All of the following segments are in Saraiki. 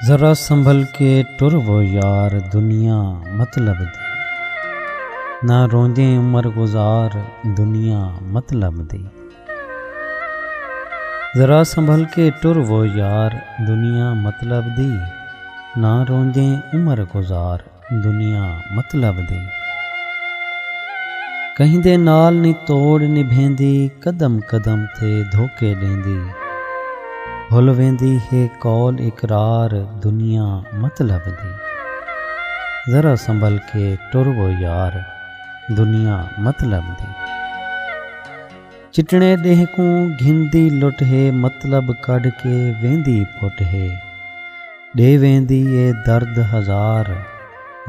ذرا سنبھل کے ٹر و یار دنیا مطلب دی نہ روندیں عمر گزار دنیا مطلب دی ذرا سنبھل کے ٹر و یار دنیا مطلب دی نہ روندیں عمر گزار دنیا مطلب دی کہیندے نال نی توڑ نبھیندی قدم قدم تے دھوکے ݙیندی بھل ویندی ہے قول اقرار دنیا مطلب دی ذرا سنبھل کے ٹر و یار دنیا مطلب دی۔ چٹنے ݙینہہ کوں گھندی لٹ ہے مطلب کڈھ کے ویندی پٹ ہے ݙے ویندی اے درد ہزار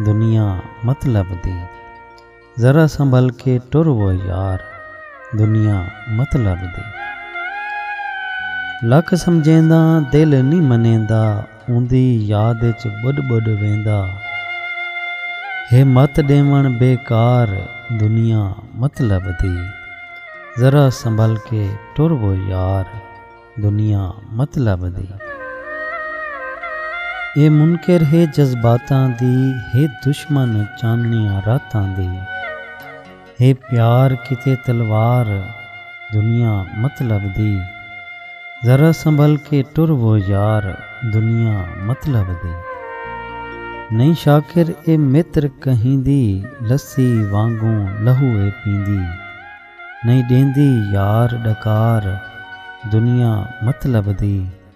دنیا مطلب دی ذرا سنبھل کے ٹر و یار دنیا مطلب دی لکھ سمجھینداں دل نی منیندا اوندی یاد اچ ٻݙ ٻݙ ویندا ہے مت ݙیوݨ بیکار دنیا مطلب دی ذرا سنبھل کے ٹر و یار دنیا مطلب دی اے منکر ہے جذباتاں دی ہے دشمن چانݨیاں راتاں دی۔ ہے پیار کیتے تلوار دنیا مت لبھدی ذرا سنبھل کے ٹر و یار دنیا مت لبھدی نئیں شاکر اے متر کہیں دی لسی وانگوں لہو اے پیندی نئیں ݙیندی یار ݙکار دنیا مت لبھدی۔